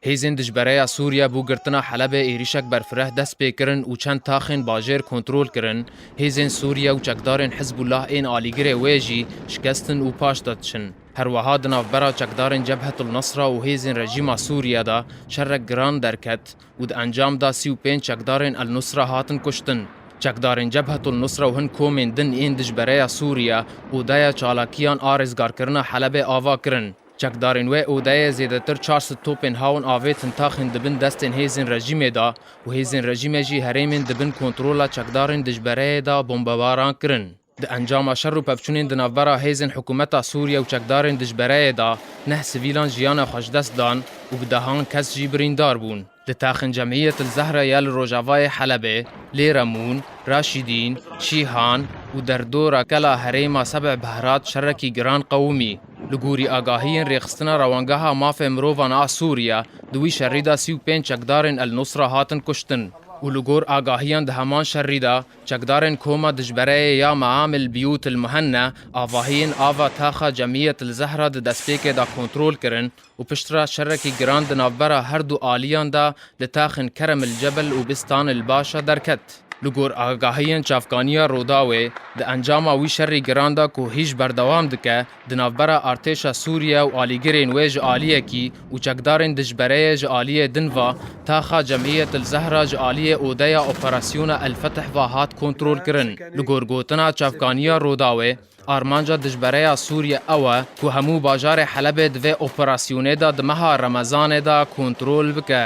Hêzên dijbereya Sûriye bo girtina Helebê êrîşek berfireh dest pê kirin û çend taxên bajêr kontrol kirin. Hêzên Sûriye û çekdarên Hizbullah ên alîgirê wê jî şikestin û paş de diçin. Her weha di navbera çekdarên Cebhetul Nusra û hêzên rejîma Sûriye de şerek giran derket. û di encam de sî û pênc çekdarên El Nusra hatin kuştin. Çekdarên Cebhetul Nusra û hin komên din yên dijbereya Sûriye odeya çalakiyan a rêzgarkirina Helebê ava kirin. Çekdarên wê odeyê zêdetir çar sed topên hawin avêtin taxên di bin destên hêzên rejîmê de û hêzên rejîmê jî herêmên di bin kontrola çekdarên dijbereyê de bombebaran kirin. Di encama şer û pevçûnên di navbera hêzên hikûmeta Sûriye û çekdarên dijbereyê de neh sivîlan jiyana xwe ji dest dan û bi dehan kes jî birîndar bûn. Di Taxên Cemîyet El Zehre ya li rojavayê Helebê, lê Remûn, Raşîdîn, Şîhan û derdora Kela Herêma Sebî Behrat şerekî giran qewimî. Li gorî agahiyên rêxistina Rewangeha Mafê Mirovan a Sûriye di wî şerî de sî û pênc çekdarên El Nusra hatin kuştin û li gor agahiyan di heman şerî de Çekdarên koma dijbereyê ya Meam el Biyût el Muhenne avahiyên ava taxa Cemiyet el Zehra di destpêkê de kontrol kirin û piştre şerekî giran di navbera her du aliyan de li taxên Kerem el Cebel û Bistan el Başa derket. Li gor agahiyên çavkaniya Rûdawê, di encama wî şerî giran de ku hîj berdewam dike, Di navbera artêşa Sûriye û alîgirên wê ji aliyekî û çekdarên dijbereyê ji aliyê din ve, taxa Cemîyetil Zehra ji aliyê odeya operasyona El Fetih ve hat kontrolkirin. Li gor gotina çavkaniya Rûdawê, armanca dijbereya Sûriye ew e ku hemû bajarê Helebê di vê operasyonê de di meha Remezanê de kontrol bike.